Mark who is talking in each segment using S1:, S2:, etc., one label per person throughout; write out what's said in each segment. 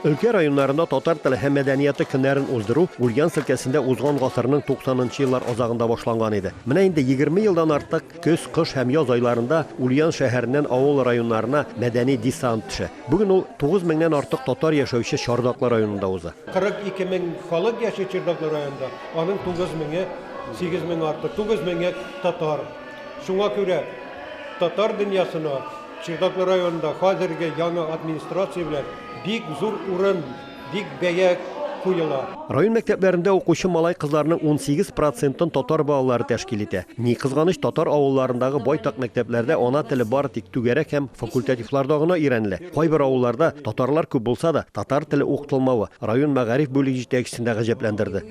S1: Өлкә районнарында татар теле һәм мәдәнияты көннәрен уздыру Ульяновск өлкәсендә узган гасырның туксанынчы еллар азагында башланган иде. Менә инде егерме елдан артык көз, кыш һәм яз айларында Ульяновск шәһәреннән авыл районнарына мәдәни десант төшә. Бүген ул тугыз меңнән артык татар яшәүче Чардаклы районында уза. Кырык ике мең
S2: халык яши Чердаклы районында, аның тугыз меңе, сигез мең артык, тугыз меңе татар. Шуңа күрә татар дөньясына, Чердаклы районында хәзерге яңа администрация белән бик зур урын, бик бәя куела. Район мәктәпләрендә
S1: укучы малай-кызларның унсигез процентын татар балалары тәшкил итә. Ни кызганыч, татар авылларындагы байтак мәктәпләрдә ана теле бары тик түгәрәк һәм факультативларда гына өйрәнелә. Кайбер авылларда, татарлар күп булса да, татар теле укытылмавы район мәгариф бүлеге җитәкчесен дә гаҗәпләндерде.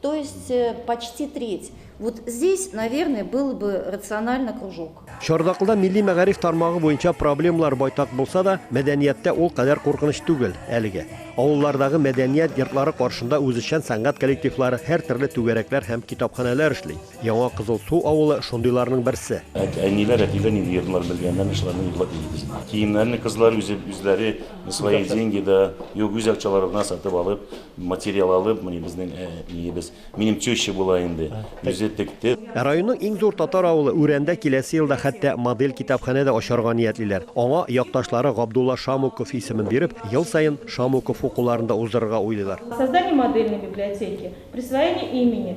S3: То есть э, почти треть. Вот здесь, наверное, был бы рационально кружок. Чардакылда милли
S1: мәгариф тармагы буенча проблемалар байтак булса да, мәдәнияттә ул кадәр куркыныч түгел әлегә. Авыллардагы мәдәният йортлары каршында үзешчән сәнгать коллективлары, һәр төрле түгәрәкләр һәм китапханәләр эшли. Яңа Кызыл Су авылы шундыйларның берсе. Әниләр, әтиләр
S4: нинди йырлар белгәннәрен шуларны йырлап йөрибез. Киемнәрне кызлар үзе, үзләре на свои деньги да, юк, үз акчалары белән сатып алып, материал алып, менә безнең әниебез, минем теща була инде, үзе текте. Ә
S1: районның иң зур татар авылы Үрәндә киләсе елда хәтта модель китапханә дә ачарга ниятлиләр. Аңа якташлары Габдулла Шамуков исемен биреп, ел саен Шамуков укуларын да уздырырга уйлыйлар. Создание модельной
S5: библиотеки, присвоение имени.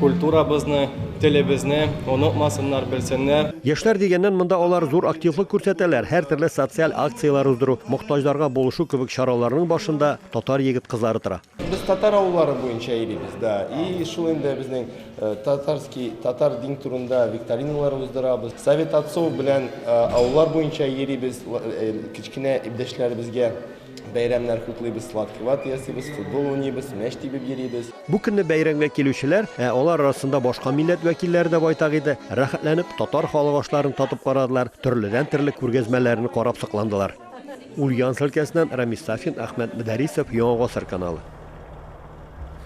S6: Культурабызны, телебезне онытмасыннар, белсеннәр. Яшьләр дигәннән, монда
S1: алар зур активлык күрсәтәләр, һәртөрле социаль акцияләр уздыру, мохтаҗларга булышу кебек чараларның башында татар егет-кызлары тора. Без татар авыллары
S7: буенча йөрибез, да, и шул инде безнең татарский, татар дин турында викториналар уздырабыз. Совет отцов белән авыллар буенча йөрибез, кечкенә иптәшләребезгә. Бәйрәмнәр хутлыйбыз, сладкий вата ясыйбыз, футбол уйныйбыз, мәч тибеп йөрибез. Бу көнне бәйрәмгә
S1: килүчеләр, ә алар арасында башка милләт вәкилләре дә байтак иде, рәхәтләнеп татар халык ашларын татып карадылар, төрледән-төрле күргәзмәләрне карап сокландылар. Ульяновск өлкәсеннән Рамис Сафин, Әхмәт Мөдәрисов, Яңа гасыр каналы.